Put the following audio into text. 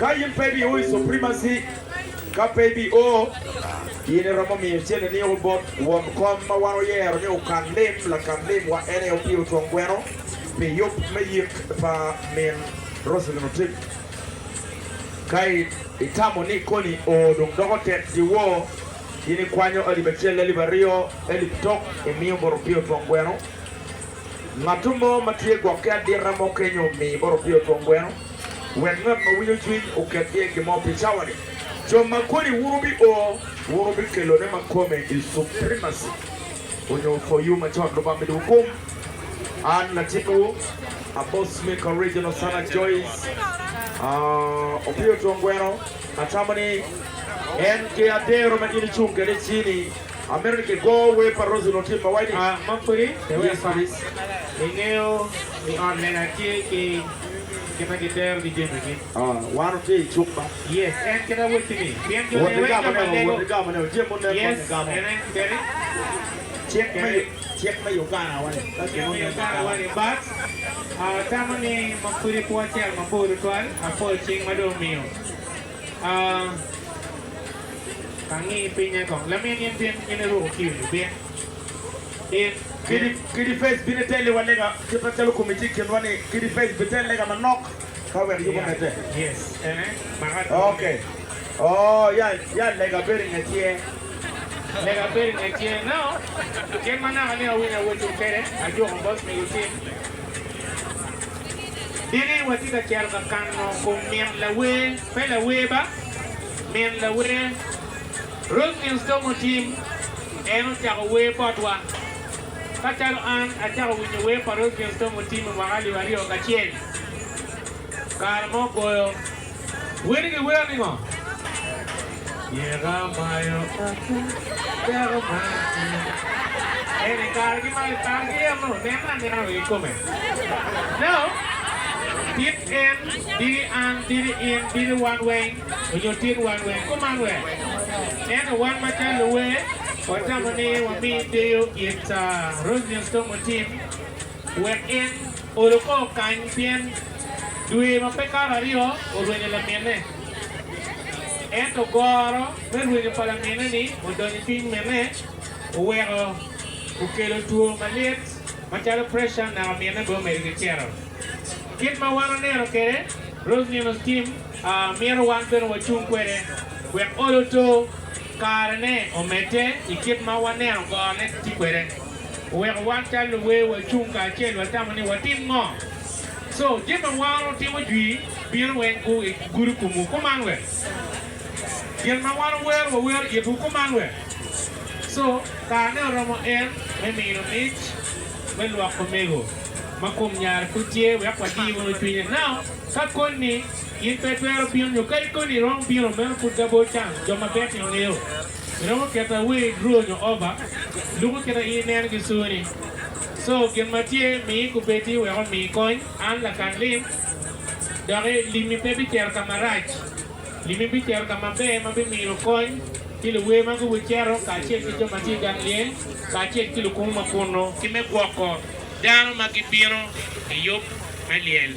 Ka in pe ibio i suprimaci, ka pe ibio, in iromo miyo cente niyuku bot won kom ma wan wayero ni okan lim. Lakan lim wa en aye opiro twon gweno pi yub me yik pa min Roselyn Otip. Ka itamo ni koni o dong doko tek gi wo, in ikwanyo alip acel, alip aryo, alip tok imiyo bot opiro twon gweno. Ngatu mo ma tye gwok ki adita mo kenyo omi bot opio twon gweno, wek ngat ma winyo cwiny oket iye gin mo pi cawa-ni. Jo ma kodi wun wubi o wun wubi kelo ne ma kome i suprimacy onyo for you ma con Lubanga midi wu kum. An latit wu a boss Mick original son a Joyce opio twon gweno atamo ni en ki adero ma in icung kede icini. Amito ni ki goo wer pa Rosie onongo tye mawaco ni ah ma kodi pe wek Spice I ngeyo I ot lega tye ki kite ki dero ki jami gi. Ah wan otye I cuk ma. Yes en kit awoti ni pien jo ne weng jo ma lego yes ene keri keri cik me Uganda wa ni but atamo ni ma kodi pwo acel mabor tutwal apol cing ma dong omiyo. Angi pinye kong lamin in tin in iruko kiyo ni bin in bin. Kidi Face bino ite liwa lega kit macalo komi tye ikinwa ni kidi Face bi te lega manok ka wek yubo mete. Yes ene maka dwong ni. Okay ooh ya ya lega bedo inge tye. Lega bedo inge tye now gin manaka ni awinyo awoco kede ajuko boss migo cim. Dini watye ka cito ka kano kom min lawer, pe lawer ba, min lawer. Roseville Stomo Tim en ocako wer botwa. Ka calo an acako winyo wer pa Roseville Stomo Tim i mwaka alip aryo kacel, kare mo goyo. Weni giwero ningo? Myero amayo ata dako man-ni. En i kare ki malo i kare ki eno nene anena rii kome. No. Tit en, diri an, diri in, diri wan weng, onyo tit wan weng. Kuman we. Ento wan macalo luwer, watamo ni wami deyo it Roselyn Stormo Tim Wek en olo kor kany pien dwe ma pe kato aryo orwenyo lamine. Ento goro me rwenyo pa lamine-ni odonyo i cwiny mine, oweko okelo two malyet macalo preca naka mine bene omedo ki cito. Kit ma wan oneno kwede, Rosny Onoskim mito wan bene wacung kwede wek olo to Karene omedde i kit ma waneno gorone ki kwede. Oweko wan calo luwer wacung kacel watamo ni watim ngo. Co jami ma waro timo jwi bino weng gu i gudu kumu kuman we. Gin ma waro wero wawero itwu kuman we. Co karene oromo en me mino mic me lwok omego ma kum nyare pud tye wek wadi wunu cwinye nao ka koni. In pe itwero bino nyo ka in koni iromo bino, meno pud gabor can. Jo maber tino ngeyo iromo keto awer i draw nyo oba, luko kit aye ineno ki suni. So, gin ma tye, mi kubeddi wek omi kony. An lakan lim, doki limmi pe bicito ka marac. Limmi bicito ka maber ma bimino kony ki luwer ma gubiceto kacel ki jo ma tye i gang lyel kacel ki lukumo ma kunnu. Ki me gwoko dano ma gibino i yub me lyel.